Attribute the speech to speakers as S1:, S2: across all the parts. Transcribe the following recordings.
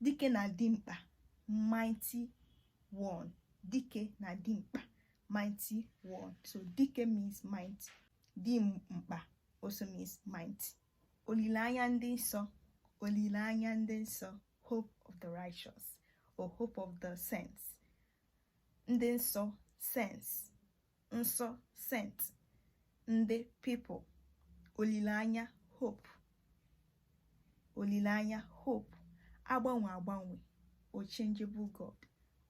S1: dike na dimkpa mighty one dike na dimkpa mighty one so dike means mighty dimkpa also means mighty olileanya ndị nsọ olileanya ndị nsọ hope of the righteous or hope of the saints ndị nsọ saints nsọ saint ndị people olileanya hope olileanya hope agbanwe agbanwe unchangeable god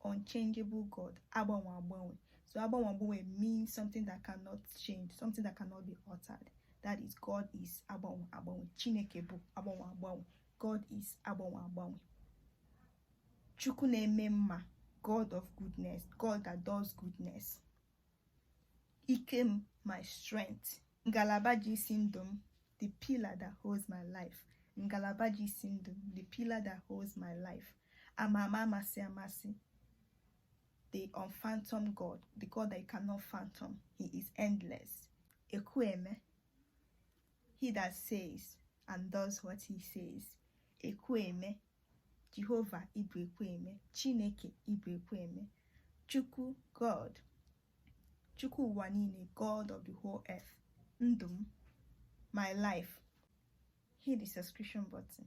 S1: unchangeable god agbanwe agbanwe so agbanwe agbanwe means something that cannot change something that cannot be altered that is god is agbanwe agbanwe chineke bụ agbanwe agbanwe god is agbanwe agbanwe chukwu na-eme mma god of goodness god that does goodness ike m my strength ngalaba ji isi ndụ m the pillar that holds my life ngalaba ji isi ndụ m the pillar that holds my life ama ama amasị amasị the unphantom god the god that you cannot phantom he is endless ekwueme he that says and does what he says ekwueme jehova ị bụ ekwueme chineke ị bụ ekwueme chukwu god chukwu ụwa niile god of the whole earth ndụ m my life hit the subscription button